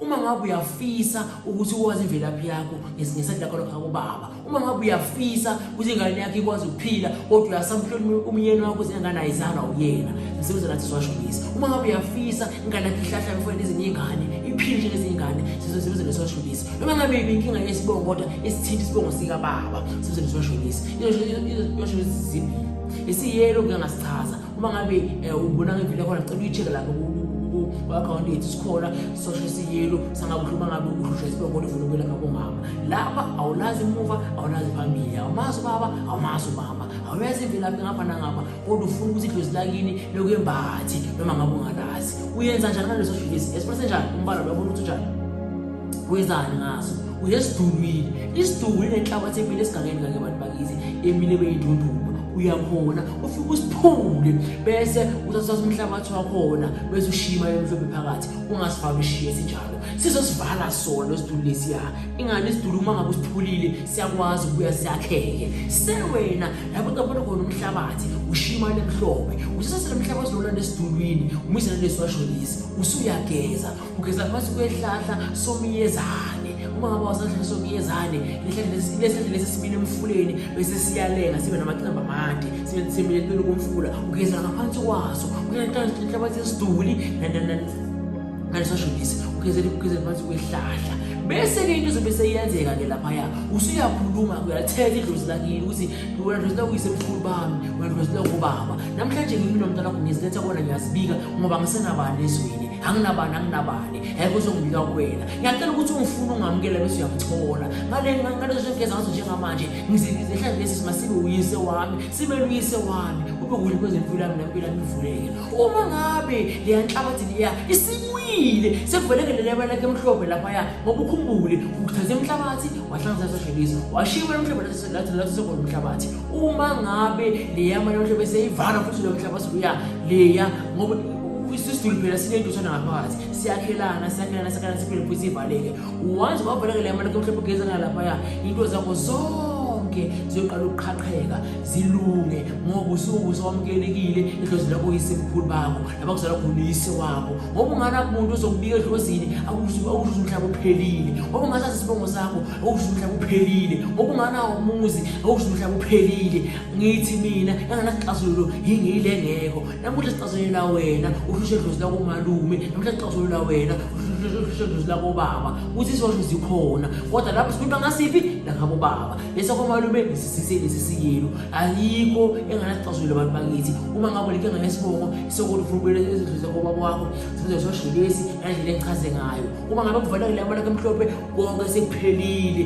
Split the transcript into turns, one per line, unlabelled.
Uma ngabe uyafisa ukuthi ukwazi imvelaphi yakho ngesingesati lakho lokho kubaba. Uma ngabe uyafisa ukuthi ingane yakho ikwazi ukuphila kodwa uyasamhlonipha umyeni wakho senganayo izana uyena. Sisebenza nathi siwashonisa. Uma ngabe uyafisa ingane yakho ihlahla mfowethu ezinye ingane iphile njengezinye ingane sizosebenza nesiwashonisa. Noma ngabe ibinkinga yesibongo kodwa isithinta isibongo sika baba sizosebenza nesiwashonisa. Iyoshonisa zibili. Isiyelo ngeke ngasichaza. uma ngabe um ubona ngempilo yakhona cela uyi-check-e lapho ku-akhawunti yethu sikhona sosho siyelo sangabe uhluba ngabe uhlushwa isibongo lifuna ukwelapha komama lapha awulazi emuva awulazi phambili awumazi ubaba awumazi umama awuyazi imvelaphi ngapha nangapha kodwa ufuna ukuthi idlozi lakini lokuyembathi noma ngabe ungalazi uyenza njani ngaleso shilisi esiphathe njani umbala lwabona ukuthi unjani wenzani ngaso uyesidulwile isidulwile nenhlabathi emile esigangeni kake bantu bakithi emile beyidunduma uyakhona ufike usiphule bese uthatha umhlabathi wakhona bese ushiya imali emhlophe phakathi ungasifaki ushiye sinjalo sizosivala sona isidulu lesiya ingane isidulu uma ngabe usiphulile siyakwazi ukubuya siyakheke sewena lapho ungabona khona umhlabathi ushiya imali emhlophe usisasele umhlabathi lona nesidulwini umizana lesi washonisa usuyageza ugeza phasi kwehlahla somyezane uma ngaba wasahlahla somyezane lehlahla lesi simile emfuleni bese siyalenga sibe namacemba amade sibe simile lulu komfula ugeza ngaphansi kwaso kuyanhlabathi esiduli nalisashonisi ugezela ukugezela phansi kwehlahla bese-ke into izobe seyenzeka-ke laphaya usuyakhuluma-ke uyalithetha idlozi lakini ukuthi wena dlozi lakuyise mkhulu bami wena dlozi lakubaba namhlanje ngimi nomntana wakho ngiziletha kona ngiyazibika ngoba ngisenabani ezweni anginabani anginabani um kuzongibika kuwena ngiyacela ukuthi ungifuna ungamukela bese uyamthola ngalezo ngeza ngazo njengamanje ngizihlale lesi sima sibe uyise wami sibe luyise wami kube kuhle kwezempilo yami nempilo yami ivuleke uma ngabe leya nhlabathi leya isimwile sekuvelekele leba lakhe emhlophe laphaya ngoba ukhumbule ukuthatha emhlabathi wahlanganisa sashebisa washiwa emhlophe lathi lathi sekona umhlabathi uma ngabe leya mali emhlophe seyivala futhi lo mhlabathi uya leya ngoba isisulu phela sinentutshana ngaphakathi siyakhelana siyakhelana siyakhelana siphele futhi sivaleke once wavaleka le mali mhlawumbe ugezana laphaya into zakho zonke ziyoqala ukuqhaqheka zilunge ngoba usuke usawamukelekile edlozi lakho yisemkhulu bakho laba kuzala khona uyise wakho ngoba unganaki muntu ozokubika edlozini akusho ukuthi umhlaba uphelile ngoba ungasazi isibongo sakho akusho ukuthi umhlaba uphelile ngoba unganawo umuzi akusho ukuthi umhlaba uphelile ngithi mina enganasixazululo yingile ngekho namuhla sixazulula wena uhlushe dlozi lakomalume namuhla sixazulula wena uhlushe dlozi lakobaba ukuthi isosho zikhona kodwa lapho sikhuluma ngasiphi lakabobaba lesakomalume nesisiyelo ayikho enganasixazulula abantu bakithi uma ngabo like nganesibongo sokuthi ufuna ukubuyela ezindlu zakobaba wakho sibuze sosho lesi nandlela engichaze ngayo uma ngabe kuvalekile amalaka emhlophe konke sekuphelile